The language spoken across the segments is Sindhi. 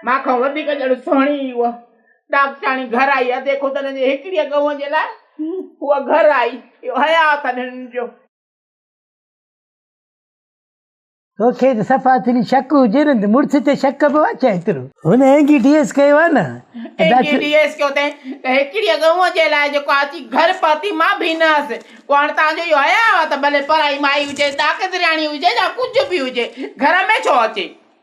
مان کان وڌيڪ ڄڻ سهڻي ئي اها ڏاڪٽرياڻي گهر آئي آهي، ديکو ته هن جي هڪڙيء ڳئونء جي لاء هوء گهر آئي، اهو حياء اٿن هنن جو. توکي ته صفا اتري شڪ هجي نه ته مڙس تي شڪ پوي ڇا ايترو. هن اينگي ڊي ايس ڪيو آهي نه. اينگي ڊي ايس ڪيو اٿئي ته هڪڙيء ڳئونء جي لاء جيڪو اچي گهر پهتي مان به نه هئس، پوء هاڻ توهان جو اهو حياء آهي ته ڀلي پرائي مائي هجي، ڏاڪٽرياڻي هجي يا ڪجهه به هجي، گهر ۾ ڇو اچي.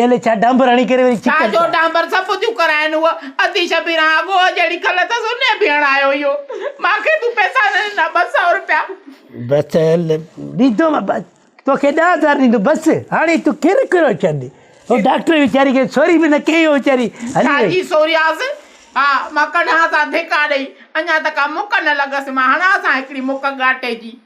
ايلي ڇا ڊانبر هڻي ڪري وري ڇا جو ڊانبر صفو ٿيون ڪرائين هوء اڌي شبيران اڳوئو جهڙي کل اٿس انهي به هڻايو اهو مان کي تون پئسا نه ڏنا ٻه سئو روپيا. بس هل ڏيندو مان بس توکي ڏهه هزار ڏيندو بس هاڻي تون ڪير ڪرو ڇڏ هو ڊاڪٽر ويچاري کي سوري به نه ڪئي هو ويچاري هلي وئي. ڇاجي سورياس ها مان ڪڍانس ها ڌڪا ڏئي اڃا ته ڪا مڪ نه لڳس مان هڻانس ها هڪڙي مڪ ڳاٽي جي.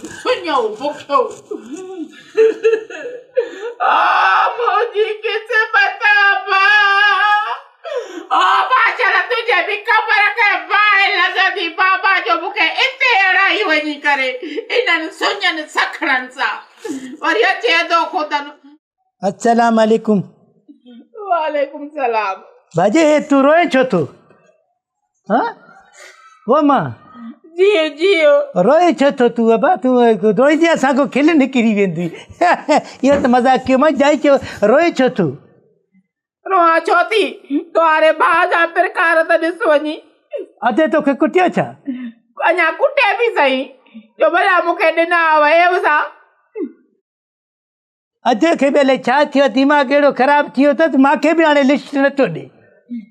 سڃائو بکيو او منهنجي قسمت ابا او معاشر تنهنجي به قبر کي باهه لڳندي بابا جو مون کي اتي اڙائي وڃي ڪري انهن سڃن سکڻن سان وري اچي اڌو خودن السلام عليڪم وعليڪم السلام باجي هي تو روئي ڇو ٿو ها و ما جيو جيو روئي ڇو ٿو تو ابا تو روئي جي اسان کو کل نڪري ويندي يا ته مذاق ڪيو ما جائي ڇو روئي ڇو ٿو روها ڇو ٿي تواري ڀا جا پرڪار ته ڏس وڃي اڌي تو کي ڪٽيو ڇا اڃا ڪٽي به سهي جو بلا مونکي ڏنا ويو سا اڌ کي به الائي ڇا ٿيو ديماغ اهڙو خراب ٿي ويو اٿس مان کي به هاڻي لسٽ نه ٿو ڏي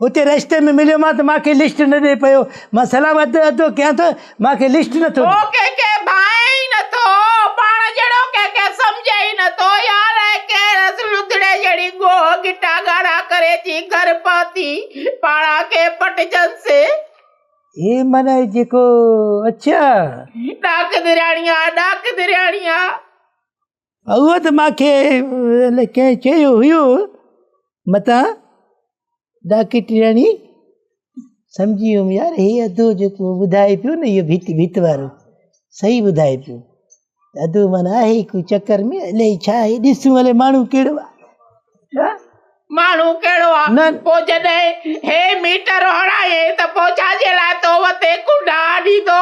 اتي رستي ۾ مليو مان ته مان کي لسٽ نه ڏي پيو مان سلام اڌ اڌو ڪيان ٿو مان کي لسٽ نه ٿو ڏي ڪي کي ڀانئي ئي نه ٿو پاڻ جهڙو ڪي کي سمجهي ئي نه ٿو يار اي ڪي رس لڌڙي جهڙي گوهه گٽا ڳاڙها ڪري جي گهر پهتي پاڻ کي پٽجنس. هي معنيٰ جيڪو اڇا. ڏاڪ درياڻيا ڏاڪ درياڻيا. هو ته مان کي ڪنهن چيو هيو متان ڊاڪٽرياڻي سمجهي ويم يار هي ادو جيڪو ٻڌائي پيو نه اهو ڀت ڀت وارو صحيح ٻڌائي پيو ادو معنيٰ آهي هڪ چڪر ۾ الائي ڇا آهي ڏسون هلي ماڻهو ڪهڙو آهي ماڻهو ڪهڙو آهي پوء جڏهن هي ميٽر هڻائين ته پوء ڇا جي لاء تو وتي ڪنڊا آڏيندو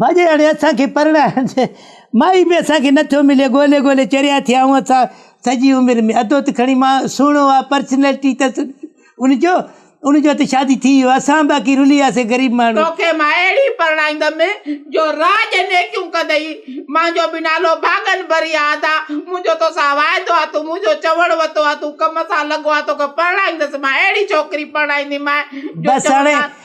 ڀڄي هاڻي اسان کي پرڻائڻ جي مائي به اسان کي نٿو ملي ڳولي ڳولي چريا ٿيا آهيون اسان سڄي عمر ۾ ادو ته کڻي مان سهڻو آ پرسنالٽي تس ان جو ان جو ته شادي ٿي ويو اسان باقي رلي وياسي غريب ماڻهو. توکي مان اهڙي پرڻائيندم جو راڄ نيڪيون ڪندئي مانجو به نالو ڀاڳن ڀري آ ادا منهنجو توسان واعدو آ تون منهنجو چوڻ وتو آ تون ڪم سان لڳو آ توکي پرڻائيندس مان اهڙي ڇوڪري پرڻائينديمانء جو چوڻ بس هاڻي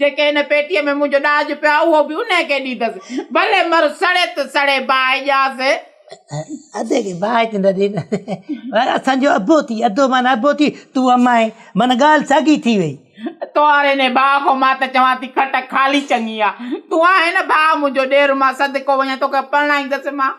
جيڪي هن پيٽيء ۾ منهنجو ڏاج پيو آهي، اهو به انهيء کي ڏيندس. ڀلي مر، سڙي ته سڙي، باهه اياز! ادي کي باهه ته نه ڏيندس، پر اسان جو ابو ٿي، ادو معنيٰ ابو ٿي، تون امائي، معنيٰ ڳالهه ساڳي ٿي ويئي. توهر هن باهه کان مان ته چوان ٿي، کٽ خالي چڱي آهي. تون آهين نه باهه منهنجو، ڏير مان صدقو وڃان، توکي پرڻائيندس مان.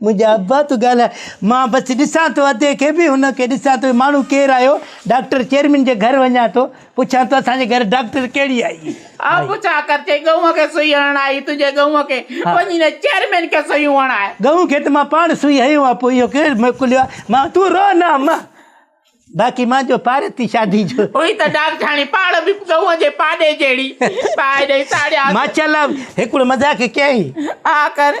منهنجا ابا تون ڳالهاء مان بس ڏسان ٿو ادي کي به هن کي ڏسان ٿو ماڻهو ڪير آيو ڊاڪٽر چيئرمين جي گهر وڃان ٿو پڇان ٿو اسان جي گهر ڊاڪٽر ڪهڙي آئي آء پڇا ڪر چئي ڳئون کي سوئي هڻڻ آئي تنهنجي ڳئون کي وڃي نه چيئرمين کي سوئيون هڻاء ڳئون کي ته مان پاڻ سوئي هنيو آ پوء اهو ڪير موڪليو آ مان تون رو نه اما باقي مان جو پار ٿي شادي جو هئي ته ڊاڪٽرياڻي پاڙ به ڳئون جي پاڏي جهڙي پاء ڏئي ساڙياس ماشاءالله هڪڙو مذاق ڪيائين آء ڪر